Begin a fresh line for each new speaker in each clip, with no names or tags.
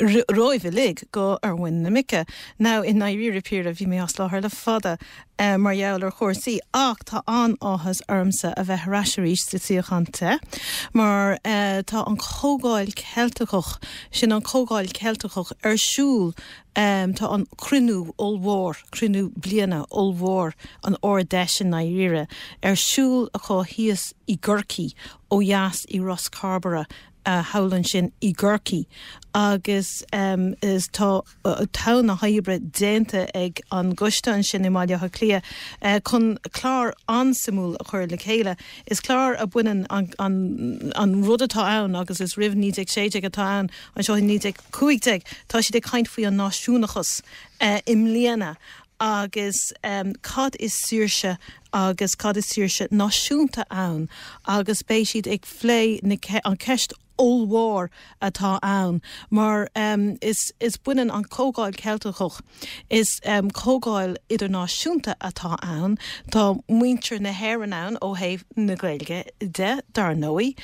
romhaibh uilig go ar mhuin na muice. Now i ndairíre píre bhí mé as láthair le fada mar gheall ar chúrsaí ach tá an-áthas ormsa a bheith ar ais arís sa suíochán te mar tá an Chomhdháil Cheilteach, sin an Chomhdháil Cheilteach, ar siúl. Tá an cruinniú ollmhór, cruinniú bliana ollmhór an Ard-Fheis i ndairíre, ar siúl acu thíos i gCorcaigh ó dheas i Ros Cairbre. thall ansin i gCorcaigh agus is tá tonn na hoibre déanta ag an gcoiste ansin i mBaile Átha Cliath chun clár an-suimiúil a chur le chéile. Is clár a bhaineann an an rud atá ann agus is roimh 1916 atá ann anseo i 1915. Tá siad ag caint faoi an náisiúnachas i mbliana. agus cad is saoirse agus cad is saoirse náisiúnta ann agus beidh siad ag plé na an ceist ollmhór atá ann mar is is baineann an Chomhdháil Cheilteach is comhdháil idirnáisiúnta atá ann tá muintir na hÉireann ann ó thaobh na Gaeilge de dar ndóigh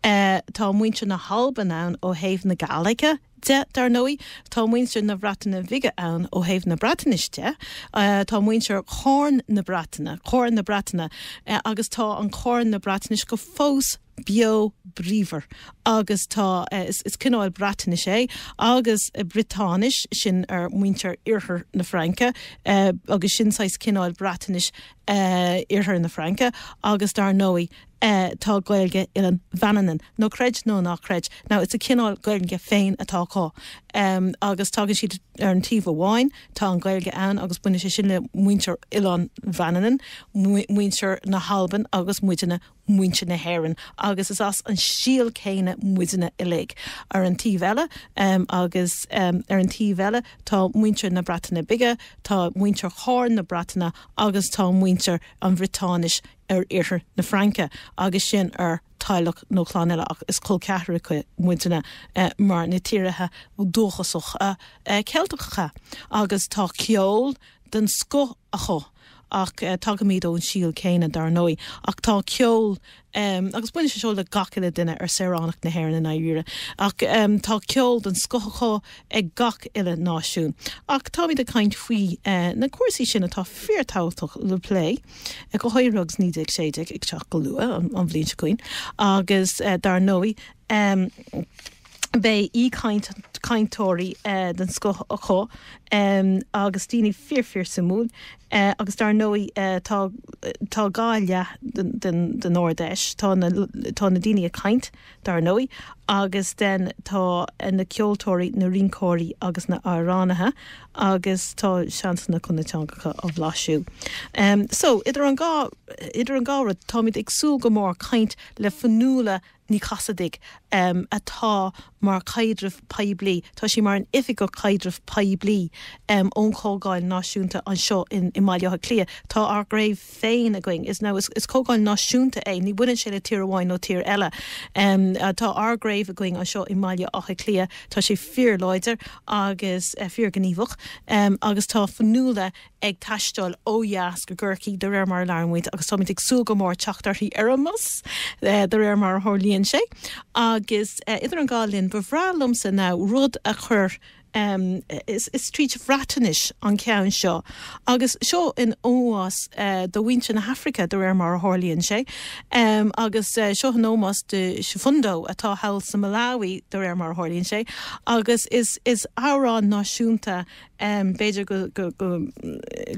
tá muintir na hAlban ann ó thaobh na Gàidhlige de. Dar ndóigh, tá muintir na Breataine Bige ann ó thaobh na Breatnaise de. Tá muintir Chorn na Breataine, Corn na Breataine, agus tá an Corn na Breatnais go fós beo bríomhar agus tá, is cineál Breatnais é agus Briotáinis, sin ar muintir iarthar na Fraince agus sin saghas cineál Breatnais iarthar na Fraince agus dar ndóigh, eh tá Gaeilge Oileán Mhanann ann, nó creid nó ná creid, now it's a cineál Gaeilge féin atá acu em agus tagann siad ar an taobh amháin tá an Ghaeilge ann agus baineann sé sin le muintir Oileán Mhanannan, muintir na hAlban agus muidne muintir na hÉireann agus is as an síol céanna muidne uilig. Ar an taobh eile em agus em ar an taobh eile tá muintir na Breataine Bige, tá muintir Chorn na Breataine agus tá muintir an Bhriotáinis, ar iarthar na Fraince agus sin ar teaghlach nó clann eile ach is col ceathracha muidne mar na tíortha dúchasacha Ceilteacha agus tá ceol den scoth acu ach tagaimid ón síol céanna dar ndóigh ach tá ceol agus baineann sé seo le gach uile duine ar saoránach na hÉireann i ndáiríre ach tá ceol den scoth acu ag gach uile náisiún ach táimid ag caint faoi na cúrsaí sin atá fíorthábhachtach le plé. go háirithe agus 1916 ag teacht go luath an bhliain seo chugainn agus dar ndóigh beidh aoichaint cainteoirí den scoth acu agus daoine fíor fíor suimiúil agus dar ndóigh tá tá dhá leath den den Ard Fheis, tá na tá na daoine ag caint, dar ndóigh, agus den tá na ceoltóirí, na rinceoirí agus na amhránaithe agus tá seansanna chun na teangacha á bhlaiseadh. So, idir an dhá, idir an dhá rud, táimid ag súil go mór caint le Fionnuala Ní Chasaide atá mar chaidreamh poiblí, tá sí mar an oifigeach caidrimh phoiblí ón Chomhdháil Náisiúnta anseo i mBaile Átha Cliath. Tá ár gcraobh. féin againn. So is Comhdháil Náisiúnta é, ní bhaineann sé le tír amháin nó tír eile. Tá ár gcraobh againn anseo i mBaile Átha Cliath, tá sé fíorláidir agus fíorghníomhach agus tá Fionnuala ag taisteal ó dheas go Corcaigh de réir mar a labhrann muid agus táimid ag súil go mór teacht uirthi ar an mbus de réir mar a tharlaíonn sé. Agus idir an dhá linn, ba bhreá liomsa now rud a chur, Is tríd Bhreatainis an ceann seo agus seo in ómós do mhuintir na hAfraice, de réir mar a tharlaíonn sé, agus seo in ómós do Siphundo atá thall sa Malawi, de réir mar a tharlaíonn sé, agus is amhrán náisiúnta, b'fhéidir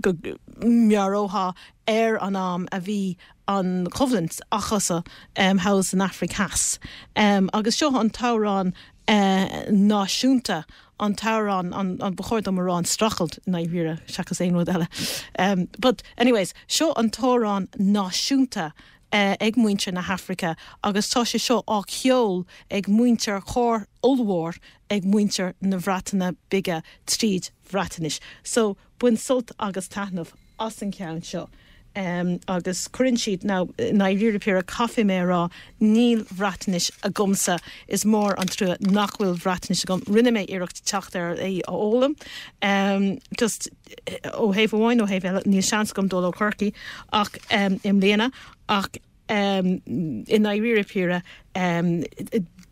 go meabhrófaí ar an am a bhí an choimhlint acusa thall san Afraic Theas. Agus seo an t-amhrán. náisiúnta an t-amhrán, an, ba chóir dom a rá an streachailt, i ndáiríre seachas aon rud eile? But, anyways, seo an t-amhrán náisiúnta ag muintir na hAfraice agus tá sé seo á cheol ag muintir chór ollmhór ag muintir na Breataine Bige tríd Bhreatainis. So. Bain sult agus taitneamh as an cheann seo agus cuireann siad, i ndáiríre píre caithfidh mé a rá, níl Bhreatnais agamsa, is mór an trua nach bhfuil Bhreatnais agam, rinne mé iarracht teacht ar a fhoghlaim just ó thaobh amháin, ó thaobh eile níl seans agam dul go Corcaigh ach i mbliana ach. Um, i ndáiríre píre, um,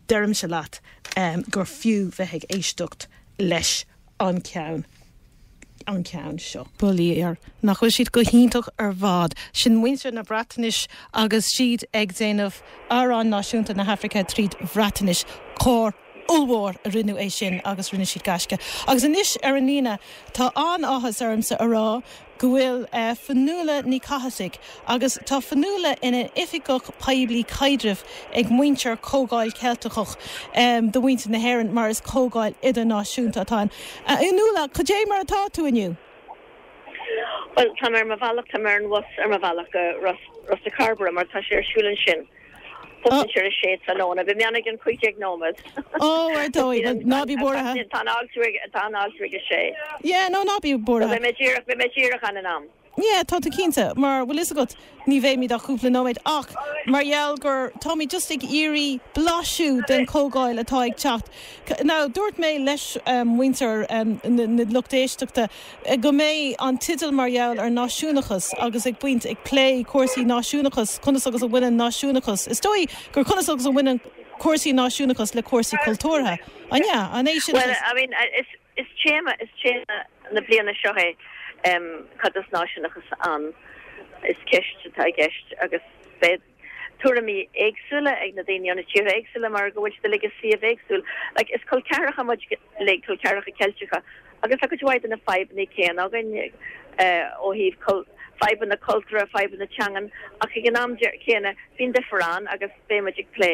deirimse leat, um, gur fiú bheith ag éisteacht leis an ceann, an ceann seo. By Dad nach bhfuil siad go hiontach ar fad. Sin muintir na Breatainis agus siad ag déanamh Amhrán Náisiúnta na hAifrice tríd Bhreatainis. Cór ollmhór a rinne é sin agus rinne siad gaisce. Agus anois ar an líne, tá an-áthas ormsa a rá go bhfuil Fionnuala Ní Chasaide agus tá Fionnuala ina h-oifigeach poiblí caidrimh ag muintir Comhdháil Cheilteach do mhuintir na hÉireann mar is comhdháil idirnáisiúnta atá ann. A Fhionnuala, cad é mar atá tú inniu? Bhuel, tá mé ar mo bhealach, tá mé ar an bhus ar mo bhealach go Ros Ó gCairbre mar tá sé ar siúl ansin. Thosaigh sé ar a sé tráthnóna. Bhí meánaigh an 15 nóiméad. Ó, ar ndóigh. Bhuel, ná bí buartha. Tá an alt ríoga, tá an alt ríoga 6. Yeah, nó ná bí buartha. Beidh mé díreach, beidh mé díreach ann in am. Yeah, tá tú cinnte. Mar, bhuel, fhios agat, ní bheimid ach cúpla nóiméad. Ach mar gheall gur táimid just ag iarraidh blaiseadh den chomhdháil atá ag teacht, now, dúirt mé leis muintir na lucht éisteachta, go mbeidh an tideal mar gheall ar náisiúnachas agus ag baint, ag plé cúrsaí náisiúnachas, conas agus a bhaineann náisiúnachas, is dóigh, conas agus a bhaineann cúrsaí náisiúnachas le cúrsaí cultúrtha, an ea? An é sin Bhuel, I mean, is, is téama, is téama na bliana seo é, em, cad is náisiúnachas ann, is ceist atá i gceist agus beidh, tuairimí éagsúla ag na daoine ó na tíortha éagsúla mar go bhfuil siad uilig i suíomh éagsúil. Like, is col ceathracha muid uilig, col ceathracha Ceilteacha, agus tá cuid mhaith de na fadhbanna céanna againn eh, ó thaobh cul- fadhbanna cultúrtha, fadhbanna teangan, ach ag an am chéanna bíonn difear ann agus beidh muid ag plé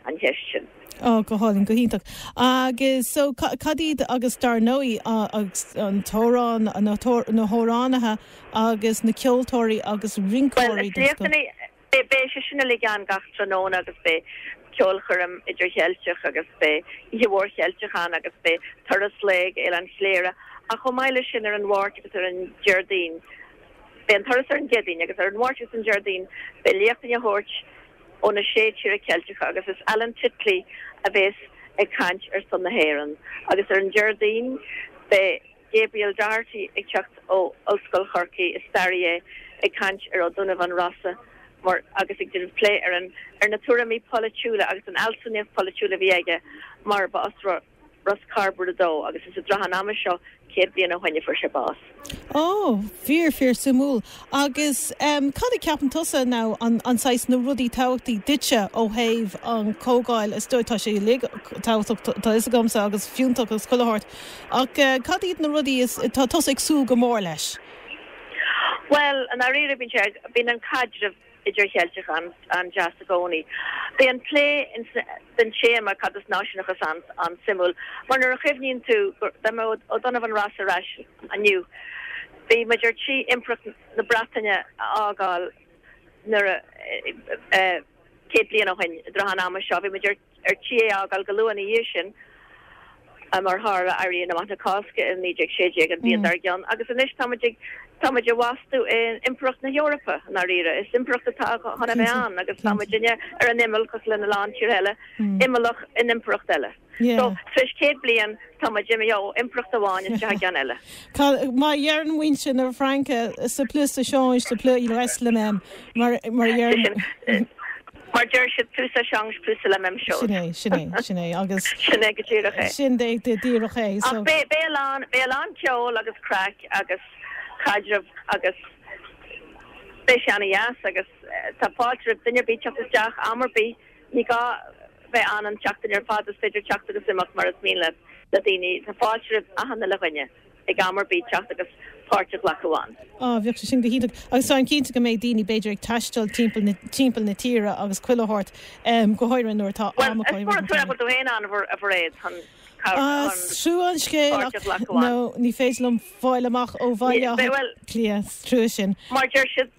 an cheist sin. Oh, go hálainn, go hiontach. Agus so, cad iad, agus dar ndóigh, an t-amhrán, na hamhránaithe agus na ceoltóirí agus rinceoirí den scoth. Bhuel, beidh sé sin uilig ann gach tráthnóna agus beidh ceolchoirm idir-Cheilteach agus beidh oíche mhór Cheilteach ann agus beidh turas lae go hOileán Chléire ach chomh maith leis sin ar an Mháirt agus ar an Déardaoin, beidh an turas ar an gCéadaoin agus ar an Mháirt agus an Déardaoin beidh léachtaí á dtabhairt ó na sé thír Cheilteacha agus is Alan Titley a bhéas ag caint ar son na hÉireann agus ar an Déardaoin beidh Gabriel Doherty ag teacht ó Ollscoil Chorcaí, is staraí é, ag caint ar Ó Donnabháin Rossa mar agus ag déanamh plé ar na tuairimí polaitiúla agus an fhealsúnacht pholaitiúil a bhí aige mar ba as Ros Cairbre dó, agus is i dtrátha an ama seo céad bliain ó shoin a fuair sé bás. Ó, fíor, fíor suimiúil. Agus em, cad a ceapann tusa nó an, an saghas, na rudaí tábhachtacha duitse ó thaobh an Comhdháil, is dóigh, tá sé uilig tábhachtach tá, tá 'fhios agamsa agus fiúntach agus chuile shórt, ach eh, cad iad na rudaí is, tá tusa ag súil go mór leis? Bhuel, i ndáiríre bíonn sé, bíonn an caidreamh. idircheilteach an-deas i gcónaí. Beidh an plé den téama cad is náisiúnachas ann an-suimiúil mar nuair a chuimhníonn tú dá mbeadh O'Donovan Rossa ar ais inniu, bhí muid ar tí impireacht na Breataine a fhágáil nuair a 100 bliain ó shin i dtrátha an ama seo bhí muid ar. ar tí é a fhágáil go luath ina dhiaidh sin mar tharla Éirí Amach na Cásca in 1916, an bhliain dár gcionn, agus anois tá muid ag. Tá muid i bhfastú in Impireacht na hEorpa, i ndáiríre. Is impireacht atá chun a bheith ann agus tá muidne ar an imeall cosúil lena lán tíortha eile, imeallach in impireacht eile. So tar éis céad bliain tá muid imithe ó impireacht amháin isteach i gceann eile. Tá, mar a dheireann muintir na Fraince, c'est plus ça change, c'est plus il reste le même, mar a dheireann. Mar deir siad Plus ça change, plus c'est la même Sin é, sin é, chose. sin é agus Sin é go díreach é. sin é go díreach é so. Ach beidh, beidh a lán, beidh a lán ceoil agus craic agus caidreamh agus beidh sé ana dheas agus eh, tá fáilte roimh duine ar bith teacht isteach am ar bith. Ní gá bheith an an tseachtain ar fad is féidir teacht agus imeacht mar is mian le le daoine. Tá fáilte roimh achan uile dhuine. ag am ar bith teacht agus páirt a ghlacadh ann. Á, bheadh sé sin go hiontach agus táim cinnte go mbeidh daoine b'fhéidir ag taisteal timpeall na tíre agus chuile shórt, go háirithe nuair atá am acu i rith an tsamhraidh. Bhuel, is mór an trua nach raibh tú fhéin ann, a Mhairéad, chun páirt a ghlacadh ann. Ní féidir liom fáil amach ó Bhaile Átha Cliath, is trua sin. Mar deir siad.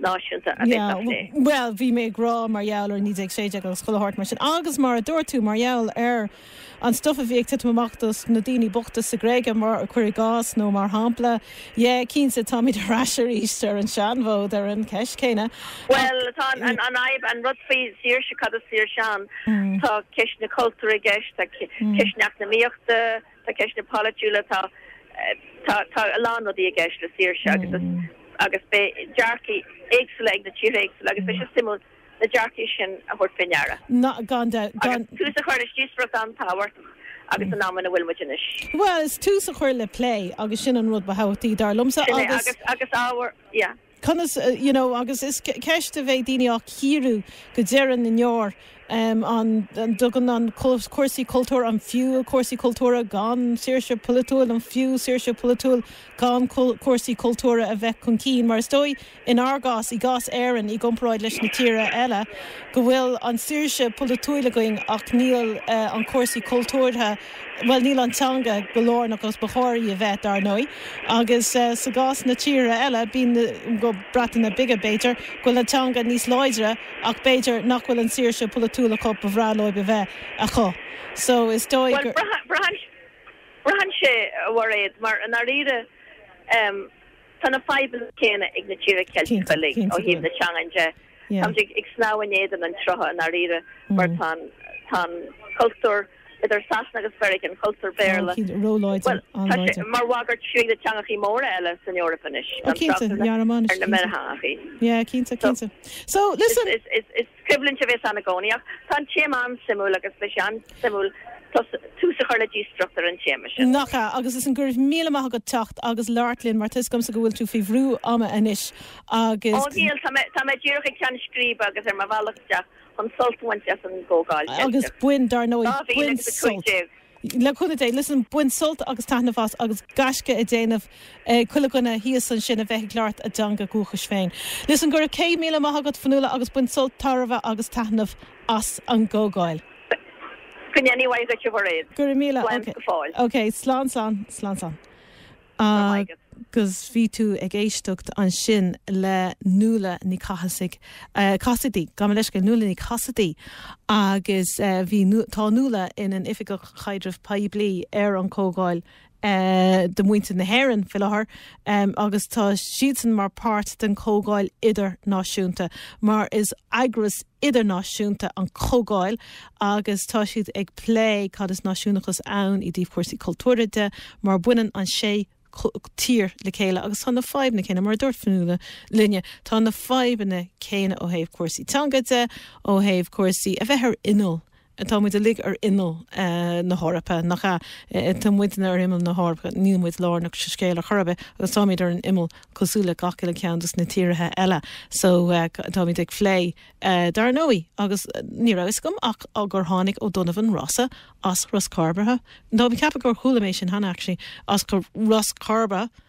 Náisiúnta a bheas á phlé. Yeah, bhuel, bhí mé ag rá mar gheall ar 1916 agus chuile shórt mar sin agus mar a dúirt tú, mar gheall ar an stuif a bhí ag titim amach do na daoine bochta sa Ghréig, cuir i gcás, nó mar shampla. Yeah, cinnte, táimid ar ais aríst ar an seanfhód ar an cheist chéanna ach. Bhuel, tá an fhadhb, an rud faoi saoirse, cad is saoirse ann? Tá ceist na cultúra i gceist, tá ceist na heacnamaíochta, Tá ceisteanna polaitiúla, tá, tá, tá a lán rudaí i gceist le saoirse agus is, agus beidh dearcaí éagsúla ag na tíortha éagsúla agus beidh sé suimiúil na dearcaí sin a thabhairt faoi ndeara. Ná, gan dabht, gan. Agus tús a chur le díospóireacht an-tábhachtach san am ina bhfuil muid anois. Bhuel, is tús a chur le plé agus sin an rud ba thábhachtaí, dar liomsa, Sin é, agus. agus, agus ábhar, yeah. conas you know agus is ceist a bheidh daoine á chíoradh go deireadh na ndeor, an dtugann an cúrsaí cultúir an fiú cúrsaí cultúra gan saoirse polaitiúil an fiú saoirse polaitiúil gan cúrsaí cultúra a bheith chun cinn mar is dóigh in ár gcás i gcás Éireann i gcomparáid leis na tíre eile go bhfuil an saoirse polaitiúil againn ach níl an cúrsaí cultúrtha Bhuel, níl an teanga go lárnach agus ba chóir í a bheith, dar ndóigh, agus sa gcás na tíre eile, bíonn, na Breataine Bige, b'fhéidir, go bhfuil an teanga níos láidre, ach b'fhéidir nach bhfuil an saoirse polaitiúil acu ba bhreá leo a bheith acu. So, is dóigh Bhuel, gur. braitheann, braitheann sé, a Mhairéad, mar i ndáiríre, tá na fadhbanna céanna ag na tíortha Ceilteacha uilig ó thaobh na teangan de. Táimid ag snámh in éadan an tsrutha i ndáiríre mar tá an cultúr idir Sasana agus Meiriceá, an cultúr Béarla, mar bhagairt fiú ag na teangachaí móra eile san Eoraip anois, tá an trácht ar na Meiriceánachaí. Is coimhlint a bheas ann i gcónaí ach tá an téama an-suimiúil agus beidh sé an-suimiúil tús a chur le díospóireacht ar an téama sin. Nach ea? Agus is an go raibh míle maith agat as teacht agus labhairt linn mar tá fhios agamsa go bhfuil tú faoi bhrú ama anois. agus, agus bain, dar ndóigh, bain sult, le cúnamh Dé, listen bain sult agus taitneamh as agus gaisce á dhéanamh ag chuile dhuine thíos ansin a bheith ag labhairt a dteanga dhúchais féin. Listen go raibh céad míle maith agat, Fionnuala, agus bain sult, tairbhe agus taitneamh as an gComhdháil. Go ndéana a mhaith dhuit, a Mhairéad. Go raibh míle. Slán go fóill. Okay, slán, slán, slán, slán. agus bhí tú ag éisteacht ansin le Nuala Ní Chathasaigh, Cassidy, gabh mo leithscéal, Nuala Ní Cassidy, agus bhí, tá Nuala ina hoifigeach caidrimh phoiblí ar an Chomhdháil do Mhuintir na hÉireann faoi láthair, agus tá siadsan mar páirt den Chomhdháil Idirnáisiúnta, mar is eagras idirnáisiúnta an Chomhdháil agus tá siad ag plé cad is náisiúnachas ann i dtaobh cúrsaí cultúrtha de mar baineann an sé tír le chéile agus tá na fadhbanna céanna, mar a dúirt Fionnuala linne, tá na fadhbanna céanna ó thaobh cúrsaí teanga de, ó thaobh cúrsaí a bheith ar imeall Tá muid uilig ar imeall na hEorpa, nach ea? Tá muidne ar imeall na hEorpa, níl muid lárnach sa scéal ar chor ar bith agus táimid ar an imeall cosúil le gach uile ceann as na tíortha eile. So, tá muid dhá phlé dar ndóigh agus ní raibh fhios agam ach gur tháinig O'Donovan Rossa as Ros Cairbre. Táim ag ceapadh gur chuala mé sin cheana actually, as Ros Cairbre.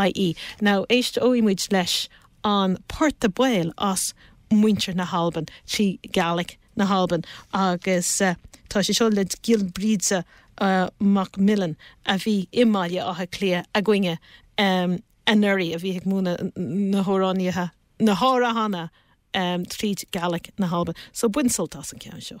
ie Now éisteoidh muid leis an port a beul as muintir na hAlban trí Gàidhlig na hAlban agus tá sé seo le Giolla Bríde McMillen a bhí i mBaile Átha Cliath againne anuraidh a bhí, tá, ag múineadh na hamhráin, na hamhránacha tríd Gàidhlig na hAlban. So bain sult as an ceann seo.